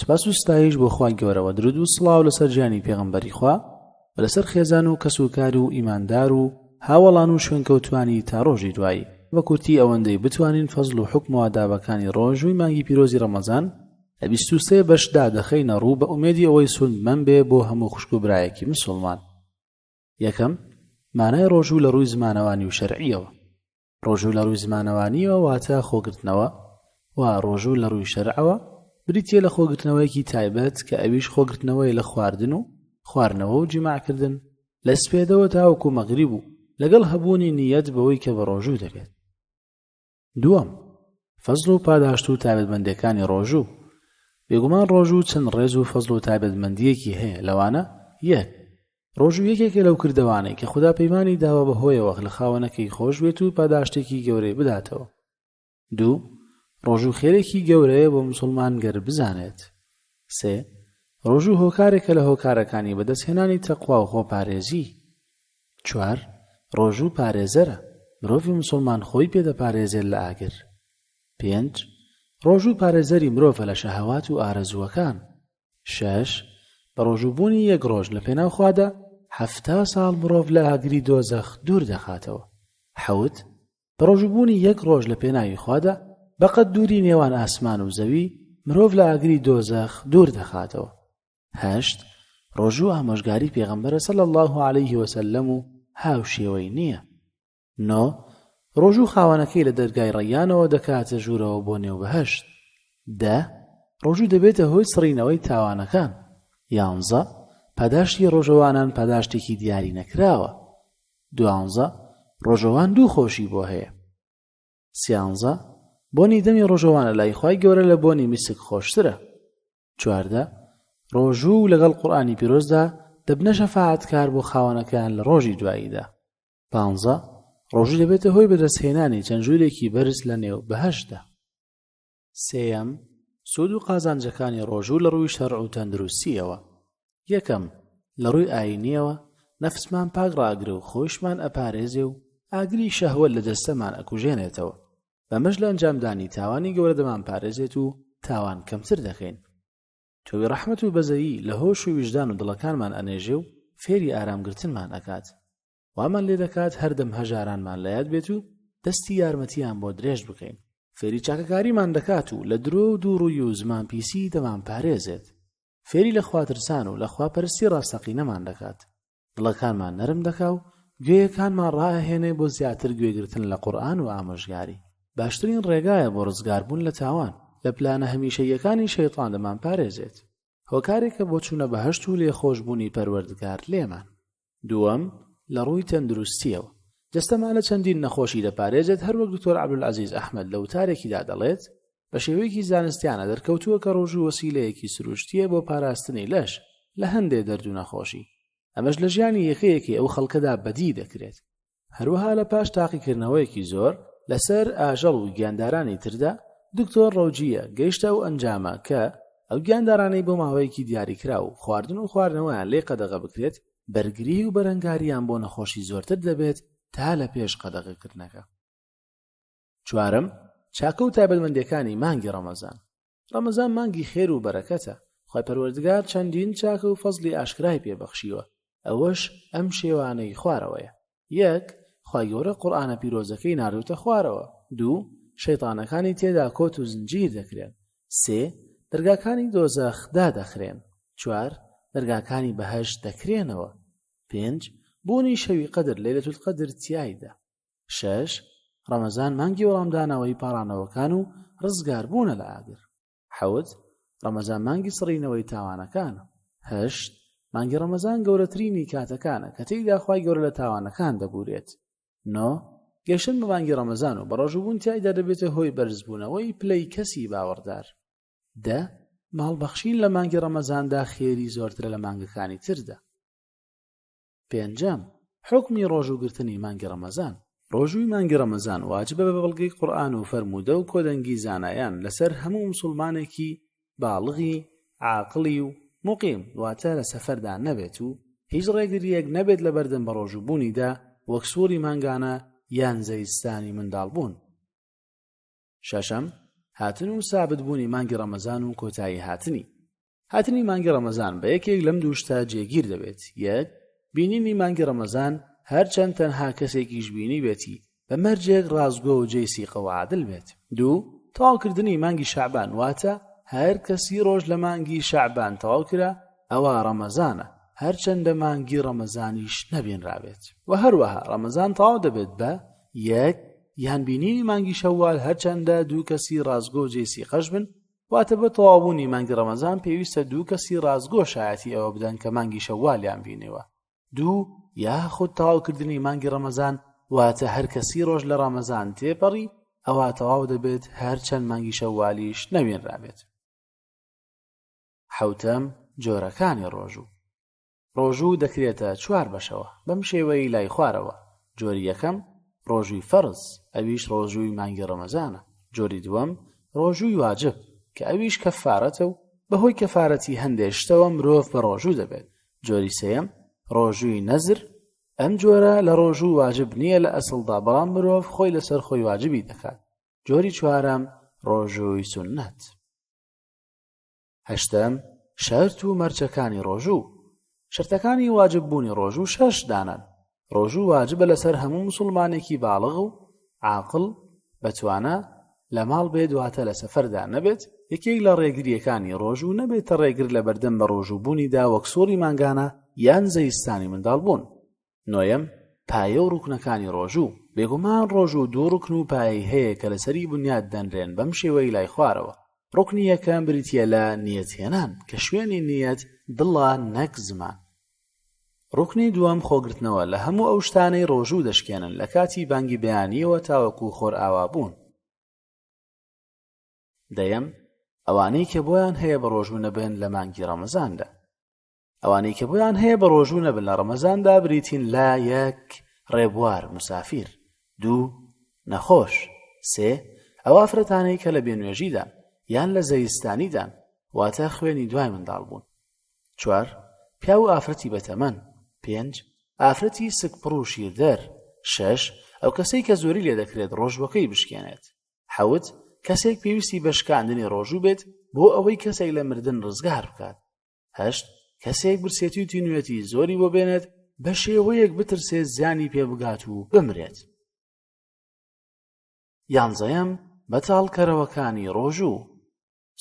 سپاس و ستایش بۆ خوای گەورەوە درود و سڵاو لەسەر جانی پێغمبەری خوا لەسەر خێزان و کەس و کار و ئیماندار و هاوەڵان و شوێنکەوتوانی تا ڕۆژی دوایی بە کورتی ئەوەندەی بتوانین فەزل و حکم و ئادابەکانی ڕۆژووی مانگی پیرۆزی ڕەمەزان لە بیست و سێ بەشدا دەخەینە ڕوو بە ئومێدی ئەوەی سوودمەند بێ بۆ هەموو خوشک و برایەکی مسوڵمان یەکەم مانای ڕۆژوو لە ڕووی زمانەوانی و شەرعیەوە ڕۆژوو لە ڕووی زمانەوانیەوە واتە خۆگرتنەوە و ڕۆژوو لە ڕووی شەرعەوە بریتە لە خۆگرتنەوەیەکی تایبەت کە ئەویش خۆگرتنەوەی لە خواردن و خواردنەوە و جیماعکردن لە سپێدەوە تاوەکو مەغری بوو لەگەڵ هەبوونی نیەت بەوەی کە بە ڕۆژوو دەبێت دووەم فەزل و پاداشت و تابەتمەندەکانی ڕۆژوو بێگومان ڕۆژوو چەند ڕێز و فەزل و تابەتمەندیەکی هەیە لەوانە یەک ڕۆژوو یەکێکە لەو کردەوانەی کە خودا پەیمانی داوە بە هۆیەوە لە خاوەنەکەی خۆش بێت و پاداشتێکی گەورەی بداتەوە دوو ڕۆژوو خێرێکی گەورەیە بۆ مسلمان گەر بزانێت سێ ڕۆژوو هۆکارێکە لە هۆکارەکانی بەدەستهێنانی تەقوا و خۆپارێزی چوار ڕۆژوو پارێزەرە مرۆڤی مسلمان خۆی پێدەپارێزێت لە ئاگر پێنج ڕۆژوو پارێزەری مرۆڤە لە شەهوات و ئارەزووەکان شەش، بەڕۆژووبوونی یەک ڕۆژ لە پێناو خوادا حەفتا ساڵ مرۆڤ لە ئاگری دۆزەخ دوور دەخاتەوە. حەوت، بەڕۆژووبوونی یەک ڕۆژ لە پێناوی خوادا بەقەد دووری نێوان ئاسمان و زەوی مرۆڤ لە ئاگری دۆزەخ دوور دەخاتەوە. هەشت، ڕۆژوو ئامۆژگاری پێغەمبەرە صلی اللە علیه وسلم و هاوشێوەی نییە. نۆ، ڕۆژوو خاوەنەکەی لە دەرگای ڕەیانەوە دەکاتە ژوورەوە بۆ نێو بەهەشت. دە، ڕۆژوو دەبێتە هۆی سڕینەوەی تاوانەکان. یانزە، پاداشتی ڕۆژەوانان پاداشتێکی دیاری نەکراوە. دوانزە، ڕۆژەوان دوو خۆشی بۆ هەیە. سیانزە، بۆنی دەمی ڕۆژەوانە لای خوای گەورە لە بۆنی میسک خۆشترە. چواردە، ڕۆژوو لەگەڵ قورئانی پیرۆزدا دەبنە شەفاعەتکار بۆ خاوەنەکەیان لە ڕۆژی دواییدا. پانزە، ڕۆژوو دەبێتە هۆی بەدەستهێنانی چەند ژوورێکی بەرز لە نێو بەهەشتدا. سێیەم، سوود و قازانجەکانی ڕۆژوو لە ڕووی شەرع و تەندروستییەوە. یەکەم، لە ڕووی ئاینییەوە، نەفسمان پاک ڕاگرە و خۆیشمان ئەپارێزێ و ئاگری شەهوەت لە جەستەمان ئەکوژێنێتەوە. بەمەش لە ئەنجامدانی تاوانی گەورە دەمانپارێزێت و تاوان کەمتر دەکەین. تۆوی ڕەحمەت و بەزەیی لە هۆش و ویژدان و دڵەکانمان ئەنێژێ و فێری ئارام گرتنمان ئەکات. وامان لێ دەکات هەردەم هەژارانمان لە یاد بێت و دەستی یارمەتییان بۆ درێژ بکەین. فێری چاکەکاریمان دەکات و لە درۆ و دووڕووی و زمان پیسی دەمانپارێزێت. فێری لە خواترسان و لە خواپەرستی ڕاستەقینەمان دەکات. دڵەکانمان نەرم دەکا و گوێیەکانمان ڕائەهێنێ بۆ زیاتر گوێگرتن لە قورئان و ئامۆژگاری باشترین ڕێگایە بۆ ڕزگاربوون لە تاوان لە پلانە هەمیشەییەکانی شەیتان دەمان پارێزێت هۆکارێکە بۆ چوونە بەهەشت و لێخۆشبوونی پەروەردگار لێمان دووەم لە ڕووی تەندروستیەوە جەستەمان لە چەندین نەخۆشی دەپارێزێت هەروەک دکتۆر عەبدولعەزیز ئەحمەد لە وتارێکیدا دەڵێت بە شێوەیەکی زانستیانە دەرکەوتووە کە ڕۆژوو وەسیلەیەکی سروشتیە بۆ پاراستنی لەش لە هەندێ دەرد و نەخۆشی ئەمەش لە ژیانی یەکەیەکی ئەو خەڵکەدا بەدی دەکرێت هەروەها لە پاش تاقیکردنەوەیەکی زۆر لەسەر ئاژەڵ و گیاندارانی تردا دکتۆر ڕەوجیە گەیشتە ئەو ئەنجامە کە ئەو گیاندارانەی بۆ ماوەیەکی دیاریکرا و خواردن و خواردنەوەیان لێ قەدەغە بکرێت بەرگری و بەرەنگاریان بۆ نەخۆشی زۆرتر دەبێت تا لە پێش قەدەغەکردنەکە چوارەم چاکە و تایبەتمەندەکانی مانگی ڕەمەزان ڕەمەزان مانگی خێر و بەرەکەتە خی پەروەردگار چەندین چاکە و فەزلی ئاشکرای پێبەخشیوە ئەوەش ئەم شێوانەی خوارەوەیە یەک خی گەورە قورآانە پیرۆزەکەی ناردوتە خوارەوە دوو شەیتانەکانی تێدا کۆت و زنجیر دەکرێن سێ دەرگاکانی دۆزەخدا دەخرێن چوار دەرگاکانی بەهەش دەکرێنەوە پێنج بوونی شەوی قەدر لەلەتول قەدر تایدا شەش ڕەمەزان مانگی وەڵامدانەوەی پاڕانەوەکان و ڕزگار بوونە لە ئاگر حەوت ڕەمەزان مانگی سڕینەوەی تاوانەکانە هەشت مانگی ڕەمەزان گەورەترینی کاتەکانە کە تێیدا خی گەورە لە تاوانەکان دەبورێت نۆ گەشتن بە مانگی ڕەمەزان و بەڕۆژبوون تایدا دەبێتە هۆی بەرزبوونەوەی پلەی کەسی باوەڕدار دە ماڵبەخشین لە مانگی ڕەمەزاندا خێری زۆرترە لە مانگەکانی تردا پێنجەم، حوکمی ڕۆژوو گرتنی مانگی ڕەمەزان. ڕۆژووی مانگی ڕەمەزان واجبە بە بەڵگەی قورئان و فەرموودە و کۆدەنگی زانایان لەسەر هەموو موسوڵمانێکی باڵغی عاقڵی و موقیم واتە لە سەفەردا نەبێت و هیچ ڕێگرییەک نەبێت لە بەردەم بەڕۆژوو بوونیدا وەک سوڕی مانگانە یان زەوی ستانی منداڵبوون. شەشەم، هاتن و سابت بوونی مانگی ڕەمەزان و کۆتایی هاتنی. هاتنی مانگی ڕەمەزان بە یەکێک لەم دوو شتە جێگیر دەبێت، یەک، بینینی مانگی ڕەمەزان هەرچەند تەنها کەسێکیش بینی بێتی بە مەرجێک ڕاستگۆ و جێی سیقە و عادل بێت. دوو، تەواوکردنی مانگی شەعبان واتە هەر کە سی ڕۆژ لە مانگی شەعبان تەواو کرا ئەوا ڕەمەزانە، هەرچەندە مانگی ڕەمەزانیش نەبینرابێت. وە هەروەها ڕەمەزان تەواو دەبێت بە، یەک، یان بینینی مانگی شەوال هەرچەندە دوو کەسی ڕازگۆ و جێی سیقەش بن واتە بۆ تەواوبوونی مانگی ڕەمەزان پێویستە دوو کەسی ڕازگۆ شایەتی ئەوە بدەن کە مانگی شەوالیان بینێوە دوو یاخود تەواوکردنی مانگی ڕەمەزان واتە هەر کەسی ڕۆژ لە ڕەمەزان تێپەڕی ئەوە تەواو دەبێت هەر چەند مانگی شەوالیش نەوێنرابێت حوتەم جۆرەکانی ڕۆژوو ڕۆژوو دەکرێتە چوار بەشەوە بەم شێوەی لای خوارەوە، جۆری یەکەم، ڕۆژووی فەرز، ئەویش ڕۆژووی مانگی ڕەمەزانە، جۆری دووەم، ڕۆژووی واجب، کە ئەویش کەفارەتە و بەهۆی کەفارەتی هەندێ شتەوە مرۆڤ بە ڕۆژوو دەبێت، جۆری سێیەم، ڕۆژووی نەزر، ئەم جۆرە لە ڕۆژوو واجب نییە لە ئەسڵدا بەڵام مرۆڤ خۆی لەسەر خۆی واجبی دەکات، جۆری چوارەم، ڕۆژووی سوننەت. هەشتەم، شەرت و مەرجەکانی ڕۆژوو، شەرتەکانی واجب بوونی ڕۆژوو شەش دانەن، ڕۆژوو واجبە لەسەر هەموو مسوڵمانێکی باڵغ و عاقڵ بەتوانا لە ماڵ بێت واتە لە سەفەردا نەبێت، یەکێک لە ڕێگرییەکانی ڕۆژوو نەبێتە ڕێگر لە بەردەم بەڕۆژووبوونیدا وەک سوڕی مانگانە یان زەیستانی منداڵبوون. نۆیەم، پایە و ڕوکنەکانی ڕۆژوو، بێگومان ڕۆژوو دوو ڕوکن و پایەی هەیە کە لەسەری بنیات دەنرێن بەم شێوەی لای خوارەوە، ڕوکنی یەکەم بریتییە لە نیەت هێنان کە شوێنی نیەت دڵە نەک زمان. ڕوکنی دووەم خۆگرتنەوە لە هەموو ئەو شتانەی ڕۆژوو دەشکێنن لە کاتی بانگی بەیانییەوە تاوەکو خۆرئاوابوون. دەیەم، ئەوانەی کە بۆیان هەیە بە ڕۆژوو نەبن لە مانگی ڕەمەزاندا. ئەوانەی کە بۆیان هەیە بە ڕۆژوو نەبن لە ڕەمەزاندا بریتین لە یەک ڕێبوار مسافیر دوو نەخۆش سێ ئەو ئافرەتانەی کە لە بێنوێژیدان یان لە زەویستانیدان واتە خوێنی دوای منداڵ بوون چوار پیا و ئافرەتی بەتەمەن پێنج ئافرەتی سکپڕ و شیردەر شەش ئەو کەسەی کە زۆری لێ دەکرێت ڕۆژوەکەی بشکێنێت حەوت کەسێک پێویستی بە شکاندنی ڕۆژوو بێت بۆ ئەوەی کەسێک لە مردن ڕزگار بکات هەشت، کەسێک برسێتی و تینوێتی زۆری بۆ بێنێت بە شێوەیەک بترسێت زیانی پێ بگات و بمرێت. یانزەیەم بەتاڵکەرەوەکانی ڕۆژوو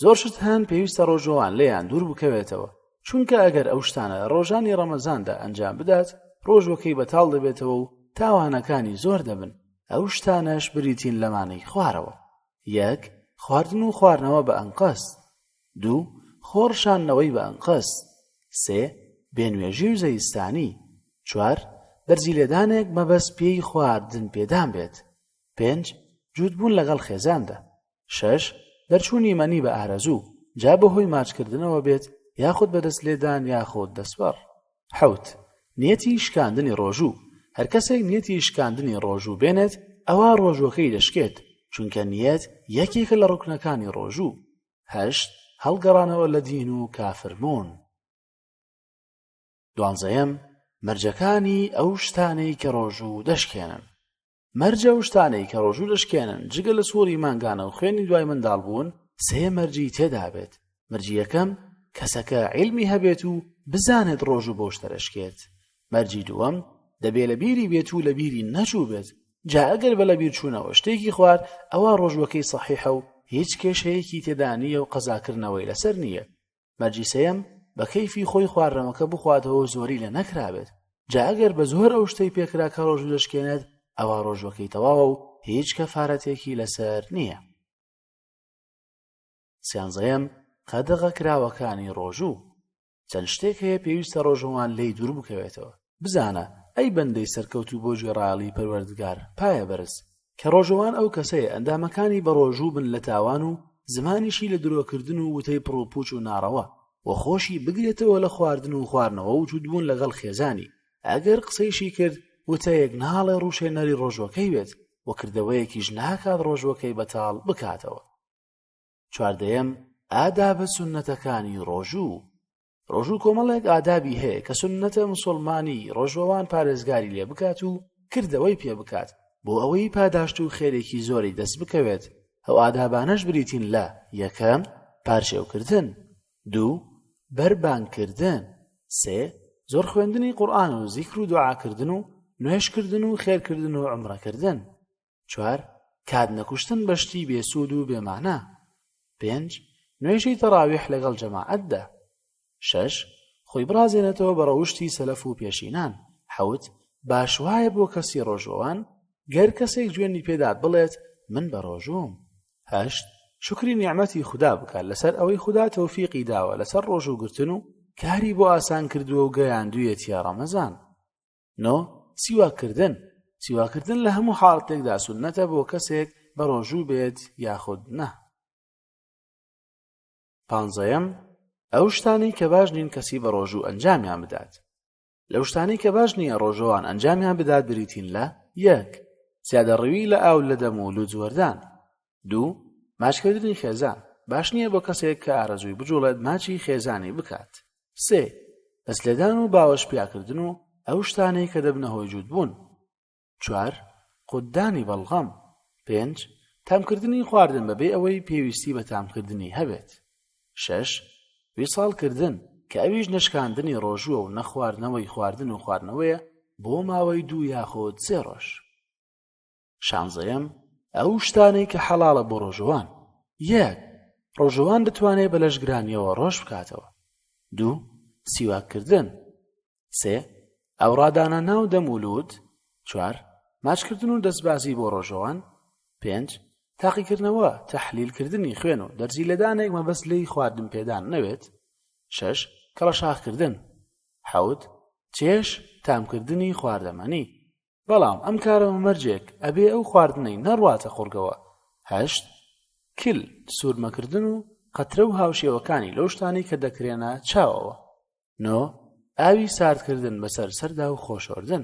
زۆر شت هەن پێویستە ڕۆژەوان لێیان دوور بکەوێتەوە چونکە ئەگەر ئەو شتانە ڕۆژانی ڕەمەزاندا ئەنجام بدات ڕۆژوەکەی بەتاڵ دەبێتەوە و تاوانەکانی زۆر دەبن ئەو شتانەش بریتین لەمانەی خوارەوە یەک خواردن و خواردنەوە بە ئەنقەست دوو، خۆڕشاندنەوەی بە ئەنقەست. سێ، بێنوێژی و زەیستانی. چوار، بەرزی لێدانێک مەبەست پێی خواردن پێدان بێت. پێنج، جووتبوون لەگەڵ خێزاندا. شەش، دەرچوونی مەنی بە ئارەزوو، جا بەهۆی ماچکردنەوە بێت یاخود بە دەست لێدان یاخود دەستبەڕ. حەوت، نیەتی شکاندنی ڕۆژوو، هەر کەسێک نیەتی شکاندنی ڕۆژوو بێنێت ئەوا ڕۆژووەکەی دەشکێت، چونکە نیەت یەکێکە لە ڕوکنەکانی ڕۆژوو. هەشت هەڵگەڕانەوە لە دین و کافربوون دوانزەیەم مەرجەکانی ئەو شتانەی کە ڕۆژوو دەشکێنن مەرجە و شتانەی کە ڕۆژوو دەشکێنن جگە لە سووری مانگانە و خوێنی دوای منداڵ بوون سێ مەرجی تێدابێت مەرجیەکەم کەسەکە عیلمی هەبێت و بزانێت ڕۆژوو بۆش دەرەشکێت مەرجی دووەم دەبێ لە بیری بێت و لە بیری نەچوو بێت جا ئەگەر بە لە بیرچوونەوە شتێکی خوارد ئەوە ڕۆژوەکەی سەحیحە و هیچ کێشەیەکی تێدا نییە و قەزاکردنەوەی لەسەر نییە مەرجی سەیەم بە کەیفی خۆی خواردنەوەکە بخواتەوە زۆری لە نەکرابێت جا ئەگەر بە زۆر ئەو شتەی پێکرا کە ڕۆژ دەشکێنێت ئەوە ڕۆژوەکەی تەواوە و هیچ کەفارەتێکی لەسەر نییە سیانزەیەم قەدەغە کراوەکانی ڕۆژوو چەند شتێک هەیە پێویستە ڕۆژەوان لێی دوور بکەوێتەوە بزانە ئەی بەندەی سەرکەوتوو بۆ گوێڕایەڵی پەروەردگار پایە بەرز کە ڕۆژەوان ئەو کەسەیە ئەندامەکانی بەڕۆژوو بن لە تاوان و زمانیشی لە درۆکردن و وتەی پڕوپوچ و ناڕەوە و خۆشی بگرێتەوە لە خواردن و خواردنەوە و جوودبوون لەگەڵ خێزانی ئەگەر قسەیشی کرد وتەیەک ناڵێ ڕوشێنەری ڕۆژوەکەی بێت وەکردەوەیەکیش ناکات ڕۆژوەکەی بەتاڵ بکاتەوە چواردەیەم، ئادابە سوننەتەکانی ڕۆژوو، ڕۆژوو کۆمەڵێک ئادابی هەیە کە سوننەتە مسوڵمانی ڕۆژوەوان پارێزگاری لێ بکات و کردەوەی پێ بکات بۆ ئەوەی پاداشت و خێرێکی زۆری دەست بکەوێت، ئەو ئادابانەش بریتین لە، یەکەم، پارشێوکردن، دوو، بەربانگکردن، سێ، زۆر خوێندنی قورئان و زیکر و دوعاکردن و نوێژکردن و خێرکردن و عومڕەکردن. چوار کات نەکوشتن بە شتی بێسوود و بێمانە پێنج نوێژی تەڕاویح لەگەڵ جەماعەتدا شەش خۆی بڕازێنێتەوە بە ڕەوشتی سەلەف و پێشینان حەوت باش وایە بۆ کەسی ڕۆژوەوان گەر کەسێک جوێنی پێدات بڵێت من بە ڕۆژوم هەشت شکری نیعممەتی خوددا بکات لەسەر ئەوەی خوددا تەوفیقی داوە لەسەر ڕۆژوگرتن و کاری بۆ ئاسان کردووە و گەیاندویەتە ڕەمەزان نۆ سیواکردن سیواکردن لە هەموو حاڵتێکدا سنەتە بۆ کەسێک بە ڕۆژوو بێت یاخود نە پانزەیەم ئەو شتانی کە باش نین کەسی بە ڕۆژوو ئەنجامیان بدات لەو شتانی کە باش نییە ڕۆژەوان ئەنجامیان بدات بریتین لە یەک زیادە ڕوی لە ئاو لە دەم و لوجوەردان دوو، ماچکردنی خێزان، باش نییە بۆ کەسێک کە ئارەزووی بجوڵێت ماچی خێزانی بکات. سێ، دەستلێدان و باوەش پیاکردن و ئەو شتانەی کە دەبنە هۆی جووتبوون. چوار، قوتدانی بەڵغەم. پێنج، تامکردنی خواردن بەبێ ئەوەی پێویستی بە تامکردنی هەبێت. شەش، ویساڵکردن، کە ئەویش نەشکاندنی ڕۆژووە و نەخواردنەوەی خواردن و خواردنەوەیە بۆ ماوەی دوو یاخود سێ ڕۆژ. شانزەیەم ئەو شتانەی کە حەڵاڵە بۆ ڕۆژەوان یەک ڕۆژەوان بتوانێت بە لەشگرانیەوە ڕۆژ بکاتەوە دوو سیواکردن سێ ئەو ڕادانە ناو دەمولود چوار ماچکردن و دەستبازی بۆ ڕۆژەوان پێنج تاقیکردنەوە تەحلیلکردنی خوێن و دەرزی لەدانێک مەبەست لی خواردن پێدان نەوێت شەش کەڵەشاخکردن حەوت چێش تامکردنی خواردەمەنی بەڵام ئەم کارە بە مەرجێک ئەبێ ئەو خواردنەی نەڕواتە قوڕگەوە هەشت کل سوورمەکردن و قەترە و هاوشێوەکانی لەو شتانەی کە دەکرێنە چاوەوە نۆ ئاوی ساردکردن بەسەر سەردا و خۆشۆردن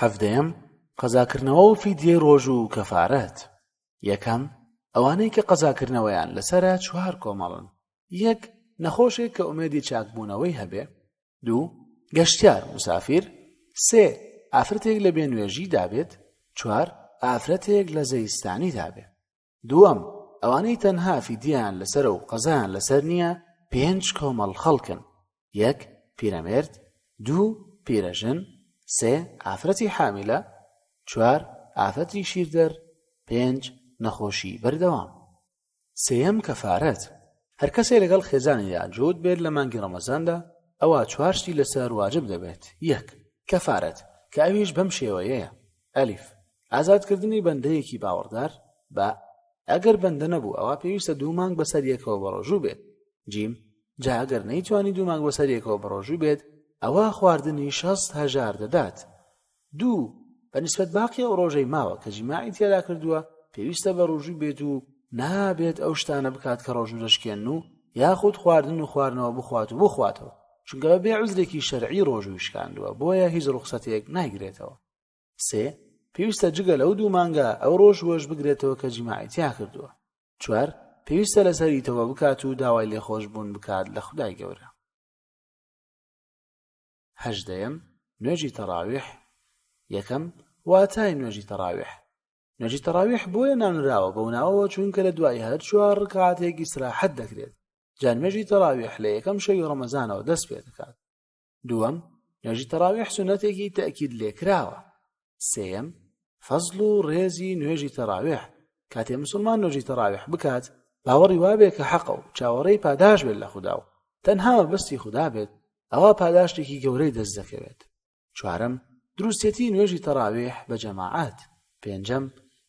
هەفتەیەم قەزاکردنەوە و فیدیەی ڕۆژ و کەفارەت یەکەم ئەوانەی کە قەزاکردنەوەیان لەسرە چوار کۆمەڵن یەک نەخۆشێک کە ئومێدی چاکبوونەوەی هەبێ دوو گەشتیار مسافیر سێ ئافرەتێک لە بێنوێژی دابێت چوار ئافرەتێک لە زەیستانی دابێ دووەم ئەوانەی تەنها فیدیان لەسەر و قەزان لەسەر نییە پێنج کۆمەڵ خەڵکن یەک، پیرەمێرد، دوو، پیرەژن، سێ، ئافرەتی حامیلە، چوار، ئافەتی شیردەر، پێنج، نەخۆشی بەردەوام. سێیەم، کەفارەت، هەر کەسێ لەگەڵ خێزانیدا جووت بێت لە مانگی ڕەمەزاندا ئەوا چوار شتی لەسەر واجب دەبێت، یەک، کەفارەت، کە ئەویش بەم شێوەیەیە، ئەلیف، ئازادکردنی بەندەیەکی باوەڕدار، با، ئەگەر بەندە نەبوو ئەوا پێویستە دوو مانگ بەسەر یەکەوە بەڕۆژوو بێت، جیم، جا ئەگەر نەیتوانی دوو مانگ بەسەر یەکەوە بەڕۆژوو بێت ئەوا خواردنی شەست هەژار دەدات، دوو، بە نیسبەت باقی ئەو ڕۆژەی ماوە کە جیماعی تێدا کردووە پێویستە بەڕۆژوو بێت و نابێت ئەو شتانە بکات کە ڕۆژوو دەشکێن و یاخود خواردن و خواردنەوە بخوات و بخواتەوە چونکە بە بێ عزرێکی شەرعی ڕۆژووی شکاندووە بۆیە هیچ ڕوخسەتێک نایگرێتەوە سێ پێویستە جگە لەو دوو مانگە ئەو ڕۆژ وەش بگرێتەوە کە جیماعی تیا کردووە چوار پێویستە لەسەری تەوە بکات و داوای لێخۆش بوون بکات لە خدای گەورە هەژدەم نوێژی تەراویح یەکەم واتای نوێژی تەراویح نوێژی تەراویح بۆیە ناونراوە بەو ناوەوە چونکە لە دوای هەر چوار ڕکاتێکی سراحەت دەکرێت جانمێژی تەراویح لە یەکەم شەوی ڕەمەزانەوە دەست پێ دەکات دووەم نوێژی تەراویح سونەتێکی تەکید لێکراوە سێەم فەزل و ڕێزی نوێژی تەراویح کاتێ مسلمان نوێژی تەراویح بکات باوەڕی وابێ کە حەقە و چاوەڕێی پاداش بێت لە خوددا و تەنها مەبەستی خوددا بێت ئەوە پاداشتێکی گەورەی دەست دەکەوێت چوارم دروستێتی نوێژی تەراویح بە جەماعات پێنجەم،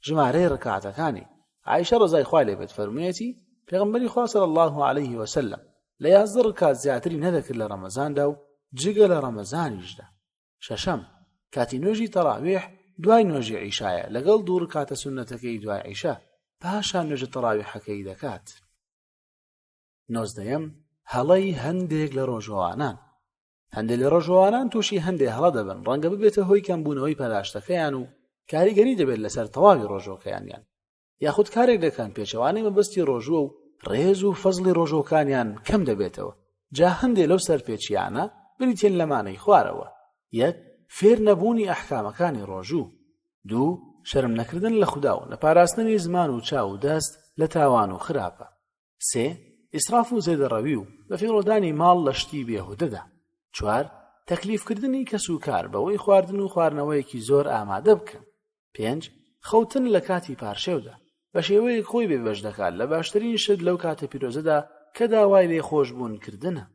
ژمارەی ڕکاتەکانی، عائشە ڕەزای خوای لێ بێت فەرموویەتی، پێغەمبەری خوا صلی اللە علیه و سلم لە یازدە ڕکات زیاتری نەدەکرد لە ڕەمەزاندا و جگە لە ڕەمەزانیشدا. شەشەم، کاتی نوێژی تەڕاویح دوای نوێژی عیشایە لەگەڵ دوو ڕکاتە سوننەتەکەی دوای عیشا، پاشان نوێژە تەڕاویحەکەی دەکات. نۆزدەیەم، هەڵەی هەندێک لە ڕۆژەوانان، هەندێک لە ڕۆژەوانان تووشی هەندێک هەڵە دەبن ڕەنگە ببێتە هۆی کەمبوونەوەی پەراشتەکەیان و کاریگەری دەبێت لەسەر تەواوی ڕۆژۆکەیانیان یاخود کارێک دەکەن پێچەوانەی مەبەستی ڕۆژووە و ڕێز و فەزلی ڕۆژۆکانیان کەم دەبێتەوە جا هەندێک لەو سەرپێچیانە بریتێن لەمانەی خوارەوە یەک فێر نەبوونی ئەحکامەکانی ڕۆژوو دوو شەرم نەکردن لە خودا و نەپاراستنی زمان و چاو و دەست لە تاوان و خراپە سێ، ئیسراف و زێدەڕەوی و بەفیڕۆدانی ماڵ لە شتی بێهودەدا. چوار، تەکلیفکردنی کەس و کار بەوەی خواردن و خواردنەوەیەکی زۆر ئامادە بکەن. پێنج، خەوتن لە کاتی پارشێودا، بە شێوەیەک خۆی بێبەش دەکات لە باشترین شت لەو کاتە پیرۆزەدا کە داوای لێخۆشبوون کردنە.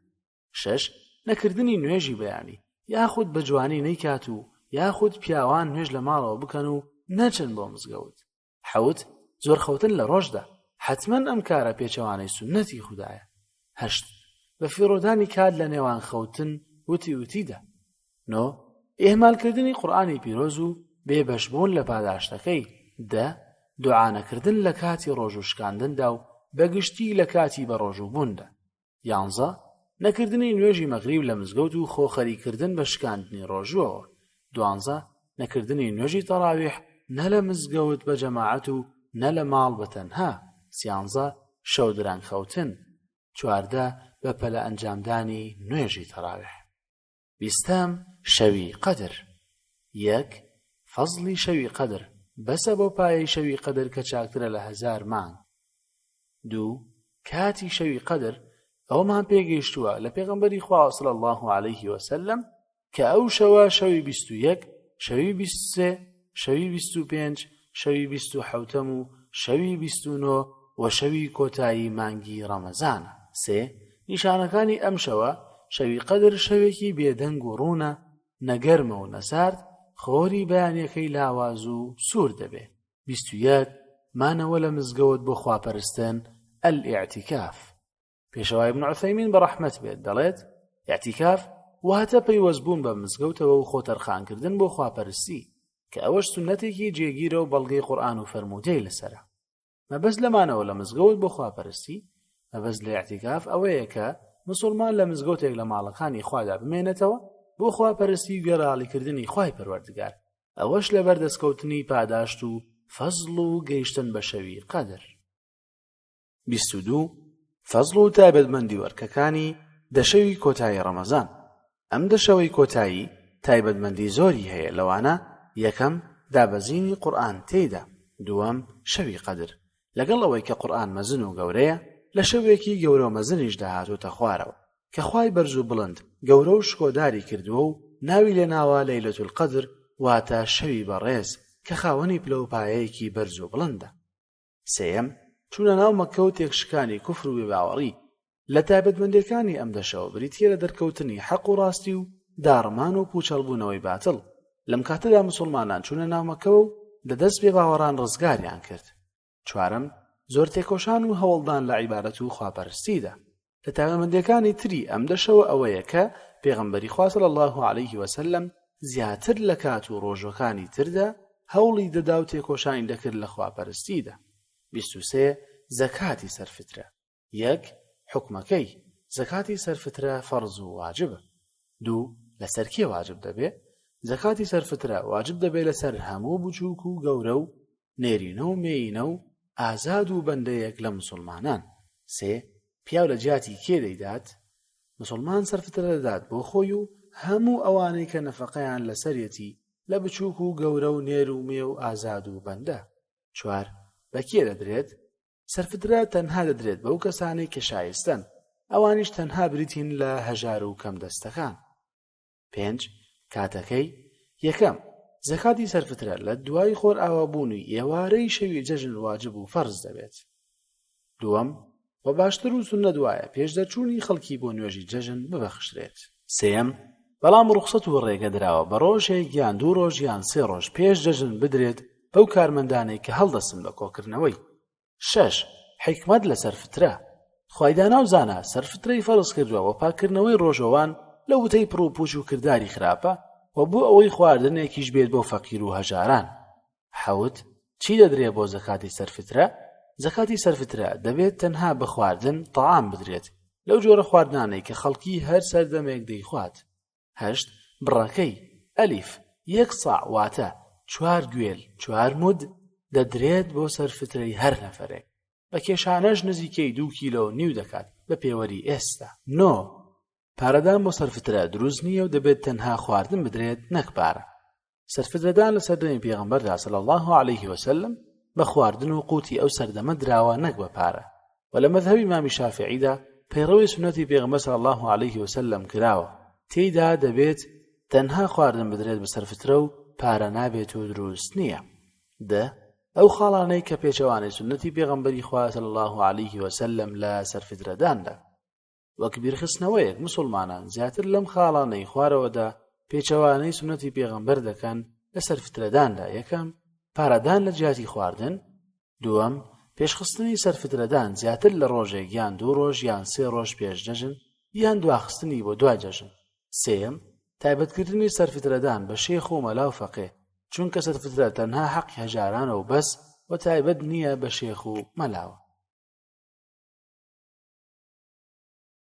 شەش، نەکردنی نوێژی بەیانی، یاخود بە جوانی نەیکات و یاخود پیاوان نوێژ لە ماڵەوە بکەن و نەچن بۆ مزگەوت. حەوت، زۆر خەوتن لە ڕۆژدا، حەتمەن ئەم کارە پێچەوانەی سوننەتی خودایە. هەشت، بە فیڕۆدانی کات لە نێوان خەوتن وتی وتیدا. نۆ، ئیهمالکردنی قورئانی پیرۆز و بێ بەشبوون لە پاداشتەکەی. دە، دوعا نەکردن لە کاتی ڕۆژوو شکاندندا و بە گشتی لە کاتی بەڕۆژووبووندا. یانزە، نەکردنی نوێژی مەغریب لە مزگەوت و خۆ خەریک کردن بە شکاندنی ڕۆژووەوە. دوانزە، نەکردنی نوێژی تەڕاویح نە لە مزگەوت بە جەماعەت و نە لە ماڵ بە تەنها. سیانزە، شەو درەنگ خەوتن. چواردە، بە پەلە ئەنجامدانی نوێژی تەڕاویح. بیستەم شەوی قەدر یەک فەزڵی شەوی قەدر بەسە بۆ پایەی شەوی قەدر کە چاکترە لە هەزار مانگ دوو کاتی شەوی قەدر ئەومان پێگەیشتووە لە پێغمبەری خواصل الله عليه وسلم کە ئەو شەوە شەوی بیست و یەک شەوی بیست سێ شەوی بیست و پێنج شەوی بیست و حەوتەم و شەوی بیست و نۆ و شەوی کۆتایی مانگی ڕەمەزانە سێ نیشانەکانی ئەم شەوە شەوی قەدر شەوێکی بێدەنگ و ڕوونە نەگەرمە و نەسارد خۆری بەیانەکەی لاواز و سوور دەبێ بیست و یەک مانەوە لە مزگەوت بۆ خواپەرستن ئەلئیعتیکاف پێشەوا ابن عثیمین بەڕەحمەت بێت دەڵێت یاعتیکاف واتە پەیوەست بوون بە مزگەوتەوە و خۆ تەرخانکردن بۆ خواپەرستی کە ئەوەش سنەتێکی جێگیرە و بەڵگەی قورآن و فەرموودەی لەسرە مەبەست لەمانەوە لە مزگەوت بۆ خواپەرستی مەبەست لە یاعتیکاف ئەوەیە کە مسلمان لە مزگەوتێک لە ماڵەکانی خوادا بمێنێتەوە بۆ خواپەرستی گەراڵیکردنی خوای پەروەردگار ئەوەش لە بەردەستکەوتنی پاداشت و فەزڵ و گەیشتن بە شەوی قەدر بیست و دوو، فەزڵ و تایبەتمەندی وەرکەکانی دەشەوی کۆتایی ڕەمەزان ئەم دەشەوەی کۆتایی تایبەتمەندی زۆری هەیە لەوانە یەکەم دابەزینی قورئان تێیدا دووەم شەوی قەدر لەگەڵ ئەوەی کە قورئان مەزن و گەورەیە لە شەوێکی گەورە و مەزنیشدا هاتووتە خوارەوە کە خوای بەرز و بڵند گەورە و شکۆداری کردووە و ناوی لێناوە لەیلەت القەدر واتە شەوی بەڕێز کە خاوەنی پلە و پایەیەکی بەرز و بڵندە سێیەم، چوونە ناو مەککە و تێکشکانی کوفر و بێباوەڕی، لە تایبەتمەندێکانی ئەم دەشەوە بریتییە لە دەرکەوتنی حەق و ڕاستی و داڕمان و پووچەڵبوونەوەی باتڵ، لەم کاتەدا موسوڵمانان چوونە ناو مەککەوە و لە دەست بێباوەڕان ڕزگاریان کرد. چوارەم، زۆر تێکۆشان و هەوڵدان لە عیبادەت و خواپەرستیدا. لە تایبەتمەندیەکانی تری ئەم دەشەوە ئەوەیە کە پێغەمبەری خوا صلی اللە علیه وسلم زیاتر لە کات و ڕۆژەکانی تردا هەوڵی دەدا و تێکۆشانی دەکرد لە خواپەرستیدا. 23 زەکاتی سەرفترە یەک حکومەکەی زەکاتی سەرفترە فەرز و واجبە دوو لەسەر کێ واجب دەبێ زەکاتی سەرفترە واجب دەبێ لەسەر هەموو بچووک و گەورە و نێرینە و مێینە و ئازاد و بەندەیەک لە مسوڵمانان سێ پیاو لە جیاتی کێ دەیدات مسلمان سەرفترە دەدات بۆ خۆی و هەموو ئەوانەی کە نەفقەیان لەسەرەتی لە بچووک و گەورە و نێر و مێ و ئازاد و بەندە چوار بە کێ دەدرێت سەرفترە تەنها دەدرێت بەو کەسانەی کە شایستەن ئەوانیش تەنها بریتین لە هەژار و کەم دەستەکان پێنج کاتەکەی یەکەم زەکاتی سەرفترە لە دوای خۆر ئاوابوونی ئێوارەی شەوی جەژن واجب و فەرز دەبێت دووەم و باشتر و سنە دوایە پێش دەرچوونی خەڵکی بۆ نوێژی جەژن ببەخشرێت سێم بەڵام ڕوخسەت و ڕێگە دراوە بە ڕۆژێک یان دوو ڕۆژ یان سێ ڕۆژ پێش جەژن بدرێت بەو کارمەندانەی کە هەڵدەسن بە کۆکردنەوەی شەش، حیکمەت لە سەرفترە، خوای دانا و زانا سەرفترەی فەرز کردووە و پاککردنەوەی ڕۆژەوان لە وتەی پڕ و پووچ و کرداری خراپە و بۆ ئەوەی خواردنێکیش بێت بۆ فەقیر و هەژاران. حەوت، چی دەدرێ بۆ زەکاتی سەرفترە؟ زەکاتی سەرفترە دەبێت تەنها بە خواردن، طعام، بدرێت، لەو جۆرە خواردنانەی کە خەڵکی هەر سەردەمێک دەیخوات. هەشت بڕەکەی، ئەلیف، یەک ساع واتە، چوار گوێل، چوار مود، دەدرێت بۆ سەر فترەی هەر نەفەرێک، بە کێشانەش نزیکەی دوو کیلۆ و نیو دەکات بە پێوەری ئێستا. نۆ پارەدان بۆ سەر فترە دروست نییە و دەبێت تەنها خواردن بدرێت نەک پارە. سەرفرەدان لە سەردەمی پێغەمبەردا صلی الله علیه وسلم بە خواردن و قوتی ئەو سەردەمە دراوە نەک بە پارە و لە مەذهبی مامی شافعیدا پەیڕەوی سنەتی پێغەمبەر صلی الله علیه وسلم کراوە تێیدا دەبێت تەنها خواردن بدرێت بە سەرفترە و پارە نابێت و دروست نییە دە ئەو خاڵانەی کە پێچەوانەی سنەتی پێغەمبەری خوا صلی الله علیه وسلم لە سەرفدرەداندا وەک بیرخستنەوەیەک موسوڵمانان زیاتر لەم خاڵانەی خوارەوەدا پێچەوانەی سوننەتی پێغەمبەر دەکەن لەسەر فترەداندا، یەکەم، پارەدان لە جیاتی خواردن، دووەم، پێشخستنی سەر فترەدان زیاتر لە ڕۆژێک یان دوو ڕۆژ یان سێ ڕۆژ پێش جەژن یان دواخستنی بۆ دوای جەژن، سێیەم، تایبەتکردنی سەرفترەدان بە شێخ و مەلا و فەقێ، چونکە سەرفترە تەنها حەقی هەژارانە و بەس و تایبەت نییە بە شێخ و مەلاوە.